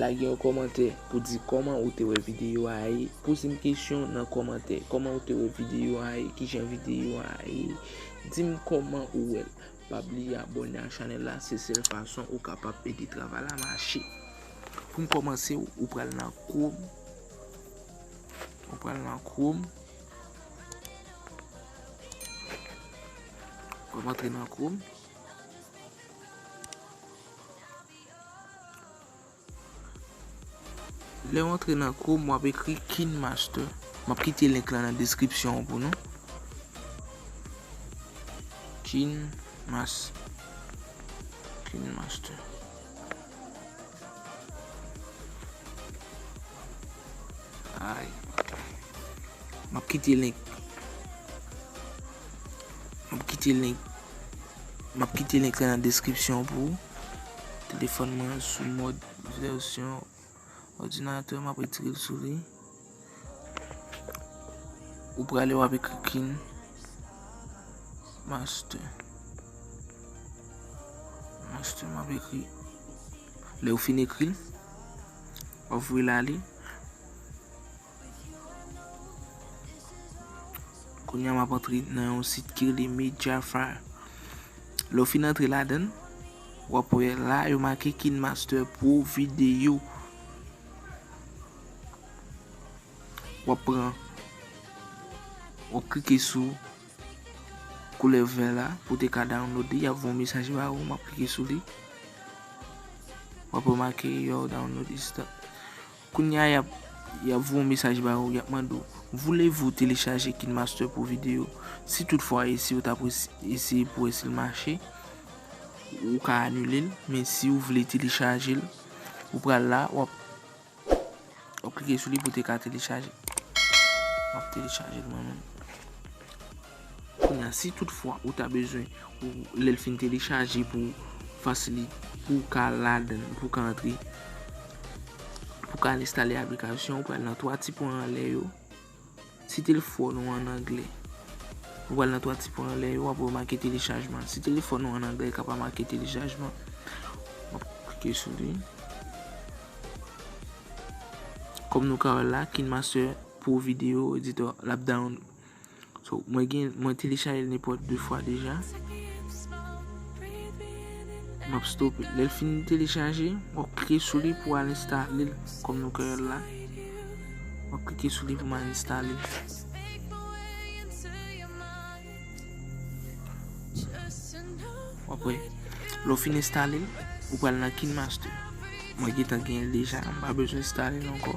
Lage yon kòmantè pou di kòman ou te wè videyo a ye. Poze m kesyon nan kòmantè. Kòman ou te wè videyo a ye? Kijan videyo a ye? Di m kòman ou wè l. Pa bliye abòne ak chanèl la se sèl fason ou kapab ede travay la mache. Pou m kòmanse ou pral nan chrome. Ou pral nan chrome. Wap antre nan chrome. Lè ou antre nan chrome wap ekri kinemaster. Map kite link lan nan description an pou nou. Kinemaster. Kinemaster. Ay. Map kite link. Map kite link. Map kite link la nan description pou ou. Telefon mwen sou mod version ordinateur map retire l sou li. Ou prale wap ekri kin master. Master map ekri. Le ou fin ekri, wap voye l ale. Kounya map antre nan yon sit ki rele Mediafire. Lè w fin antre ladan, w ap wè la yo make KineMaster Pro Video. W ap pran, w ap klike sou koulè vè la pou te ka download li. Y ap voye yon mesaj ba ou, m ap klike sou li. W ap remake your download is done. Kounya yap yap voye yon mesaj ba ou yap mande ou voulez vous télécharger kinmaster pour vidéo si tout fwa esi ou tap eseye pou wè sil mache ou ka anule l men si ou vle telechaje l ou pral la wap wap klike sou li pou te ka telechaje map telechaje l mwen menm. Kounye a si tout fwa ou ta bezwen pou lèl fin telechaje pou fasilite pou w ka ladann pou w ka antre pou w ka al enstale aplikasyon ou pral nan 3 ti pwen anlè yo si telefòn ou an anglè ou pral nan 3 ti pwen anlè yo wap wè make telechajman si telefòn ou an anglè li ka pa make telechajman wap klike sou li kòm nou ka wè la KineMaster Pro Video Editor lap download So mwen gen mwen telechajel nenpòt 2 fwa deja. Map stope. Lèl fin telechaje, wap klike sou li pou al enstale l kòm nou kwè la. Wap klike sou li pou man enstale. Wap wè. Lò fin enstale, ou pral nan KineMaster. Mwen gen tan gen l deja, m pa bezwen enstale l ankò.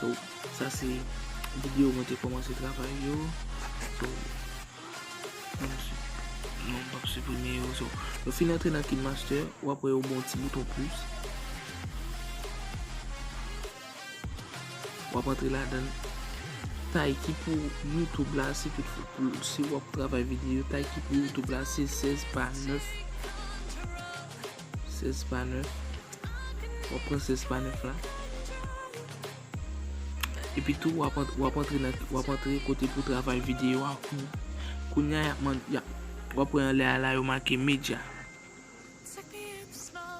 So sa se video mwen te komanse travay yo. So nou m pap siprime yo. So yo fin antre nan kinmaster ou ap wè yo bon ti bouton plus. Ou ap antre la dan. Tay ki pou YouTube la si tout fout si wap travay video. Tay ki pou YouTube la se 16 pa 9. 16 pa 9 wap pran 16 pa 9 la epi tou wap antre nan wap antre kote pou travay video a kounya yap man yap wap wè anlè a la yo make media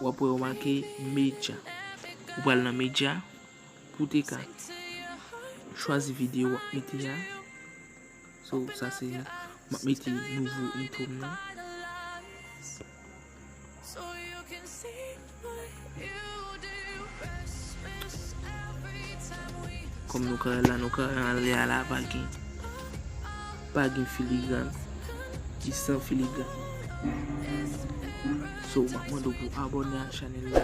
wap wè yo make media ou pral nan media pou te ka chwazi video wap mete a sou sa se map mete nouvo intro m nan Kòm nou ka wè la nou ka wè an lè a la pa gen pa gen filigran li san filigran so map mande w pou abòne ak chanèl la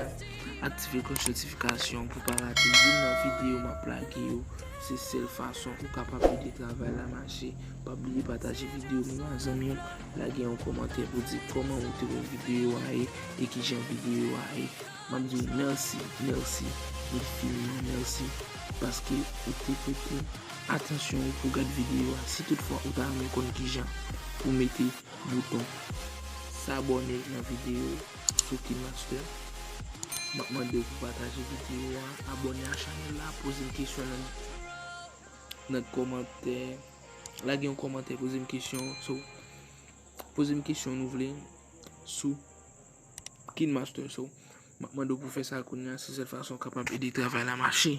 aktive klòch notifikasyon pou pa rate youn nan videyo map lage yo se sèl fason ou kapab ede travay la mache pa bliye pataje videyo nou ak zanmi w Lage yon komantè pou di koman ou te wè video a ye e kijan video a ye. Map di ou merci, merci infiniment merci paske ou te prete atansyon ou pou gad video a. Si tout fwa ou ta renmen konn kijan pou mete bouton s'abonner nan video sou Kinmaster, map mande ou pou pataje video a, abonner a chanel la, poze m kesyon nan komantè. Lage yon kòmantè poze m kesyon so poze m kesyon nou vle sou kinmaster so m ap mande w pou fè sa kounya se sèl fason w kapab ede travay la mache.